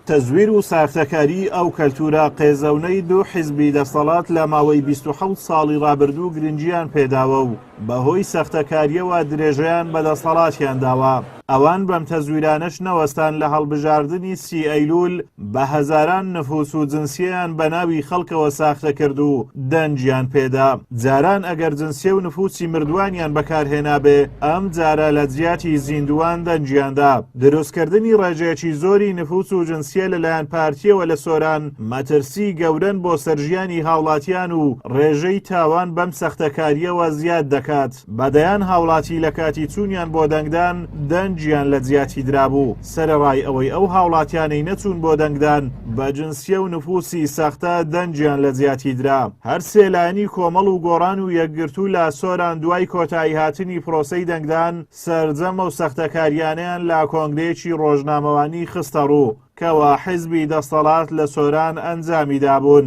تەزویر و ساختەکاریی ئەو کەلتوورە قێزەونەی دوو حیزبی دەستەڵات لە ماوەی بیست و حەوت ساڵی ڕابردوو گرنگییان پێداوە و بەهۆی سەختەکارییەوە درێژەیان بە دەستەڵاتیان داوە، ئەوان بەم تەزویرانەش نەوەستان لە هەڵبژاردنی سی ئەیلوول بە هەزاران نفوس و جنسیەیان بە ناوی خەڵکەوە ساختە کرد و دەنگیان پێدا. جاران ئەگەر جنسیە و نفوسی مردووانیان بەکارهێنابێ، ئەمجارە لە جیاتی زیندووان دەنگیان دا. دروستکردنی ڕێژەیەکی زۆری نفوس و جنسیە لەلایەن پارتیەوە لە سۆران مەترسی گەورەن بۆ سەر ژیانی هاوڵاتیان و ڕێژەی تاوان بەم سەختەکاریەوە زیاد دەکات بە دەیان هاوڵاتی لە کاتی چونیان بۆ دەنگدان دەنگیان لە جیاتی درابوو سەرەڕای ئەوەی ئەو هاوڵاتیانەی نەچون بۆ دەنگدان بە جنسیە و نفوسی سەختە دەنگیان لە جیاتی درا هەر سێ لایەنی کۆمەڵ و گۆڕان و یەکگرتوو لە سۆران دوای کۆتایی هاتنی پرۆسەی دەنگدان سەرجەم ئەو سەختەکارییانەیان لە کۆنگرەیەکی ڕۆژنامەوانی خستەڕوو، کەوا حیزبی دەستەڵات لە سۆران ئەنجامی دابوون.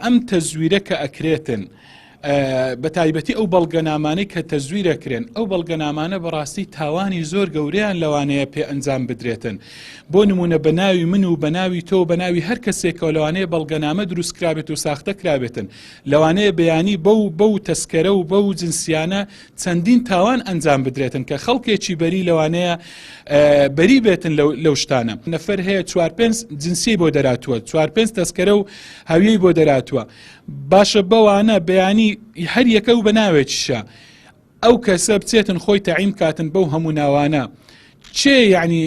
ئەم تەزویرە کە ئەکرێتن، بە تایبەتی ئەو بەڵگەنامانەی کە تەزویر ئەکرێن، ئەو بەڵگەنامانە بە ڕاستی تاوانی زۆر گەورەیان لەوانەیە پێ ئەنجام بدرێتن. بۆ نموونە بە ناوی من و بە ناوی تۆ و بە ناوی هەر کەسێکەوە لەوانەیە بەڵگەنامە دروست کرابێت و ساختە کرابێتن. لەوانەیە بیانی بەو بەو تەسکەرە و بەو جنسیانە چەندین تاوان ئەنجام بدرێتن کە خەڵکێکی بەری لەوانەیە بەری بێتن لەو شتانە نەفەر هەیە چوار پێنج جنسی بۆ دەراتوە چوار پێنج تەسکەرە و هەویەی بۆ دەراتوە باشە بەوانە بەیانی هەر یەکە و بەناوێکیشە ئەو کەسە بچێتن خۆی تەعیم کاتن بەو هەموو ناوانە چێ یعنی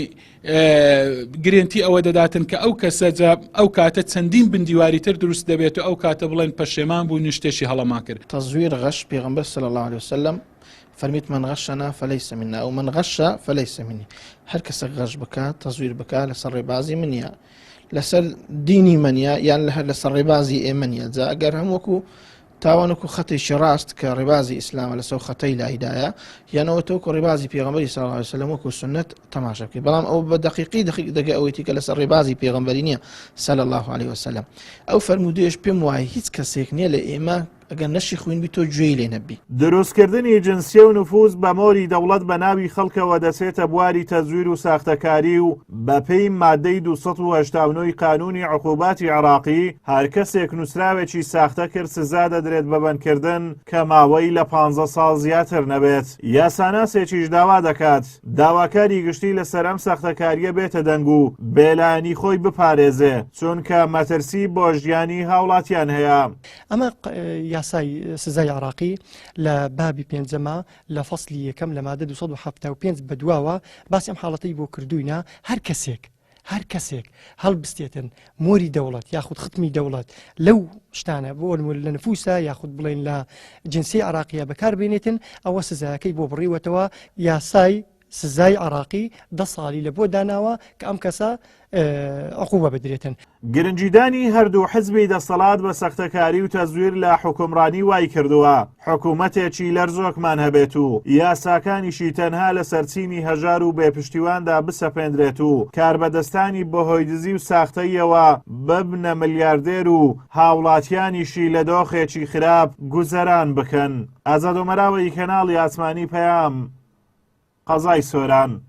گرنتی ئەوە دەداتن کە ئەو کەسە جا ئەو کاتە چەندین بندیواری تر دروست دەبێت و ئەو کاتە بڵێن پەشێمان بوو نشتێکی هەڵەمان کرد تەزویر غەش پێغمبەر سەل الله عليه وسلم فەرمیت من غەشەنا فەلەی سەمینە ئەو من غەشە فەلەی سەمینی هەر کەسە غەش بکات تەزویر بکات لەسەر ڕێبازی منە لەسەر دینی منە یان لە هەر لەسەر ڕێبازی ئێمەنە جا ئەگەر هەم وەکو تاوەنکو خەتێکی ڕاست کە ڕێبازی ئیسلامە لەسەو خەتەی لایدایە یانەوە تۆکو ڕێبازی پێغەمبەری صلی اللە علیە وسلم وەکو سوننەت تەماشا بکەی بەڵام ئەو بە دەقیقی دەقیق دەگە ئەوەیتی کە لەسەر ڕێبازی پێغەمبەری نییە صلی اللە علیە وسلم ئەو فەرموودەیەش پێم وایە هیچ کەسێک نییە لە ئێمە ئەگەر نەشی خوین بی تۆ گوێی لێ نەبی دروستکردنی جنسیە و نفوز بە مۆری دەوڵەت بە ناوی خەڵکەوە دەچێتە بواری تەزویر و ساختەکاری و بەپێی مادەی دوو سەد و هەشتا و نۆ ی قانوونی عقوباتی عێراقی، هەر کەسێک نووسراوێکی ساختە کرد سزا دەدرێت بە بەندکردن کە ماوەی لە پانزە ساڵ زیاتر نەبێت. یاساناسێکیش داوا دەکات داواکاری گشتی لەسەر ئەم ساختەکارییە بێتە دەنگ و بێلایەنی خۆی بپارێزێ، چونکە مەترسی بۆ ژیانی هاوڵاتیان هەیە. ئەمە یاسای سزای عێراقی لە بابی پێنجەمە لە فەسلی یەکەم لە مادە دوو سەد و حەفتا و پێنج بەدواوە باسی ئەم حاڵەتەی بۆ کردووینە، هەر کەسێک، هەر کەسێک هەڵبستێتن مۆری دەوڵەت یاخود ختمی دەوڵەت لەو شتانە بۆ ئەلمول لە نفوسە یاخود بڵێن لە جنسی عراقیە بەکاربێنێتن ئەوە سزایەکەی بۆ بڕیوەتەوە یاسای سزای عراقی دە سالی لە بۆ داناوە کە ئەم کەسە عقوبە بدرێتن. گرنگیدانی هەردوو حزبی دەسەڵات بە سەختەکاری و تەزویر لە حکومڕانی وای کردووە حکوومەتێکی لەرزۆکمان هەبێت و یاساکانیشی تەنها لە سەرچینی هەژار و بێپشتیواندا بسەپێندرێت و کاربەدەستانی بەهۆی دزی و ساختەیەوە ببنە ملیاردێر و هاوڵاتیانیشی لە دۆخێکی خراپ گوزەران بکەن. ئازادۆمەراوە ی کەناڵی ئاسمانی پەیام قەزای سۆران.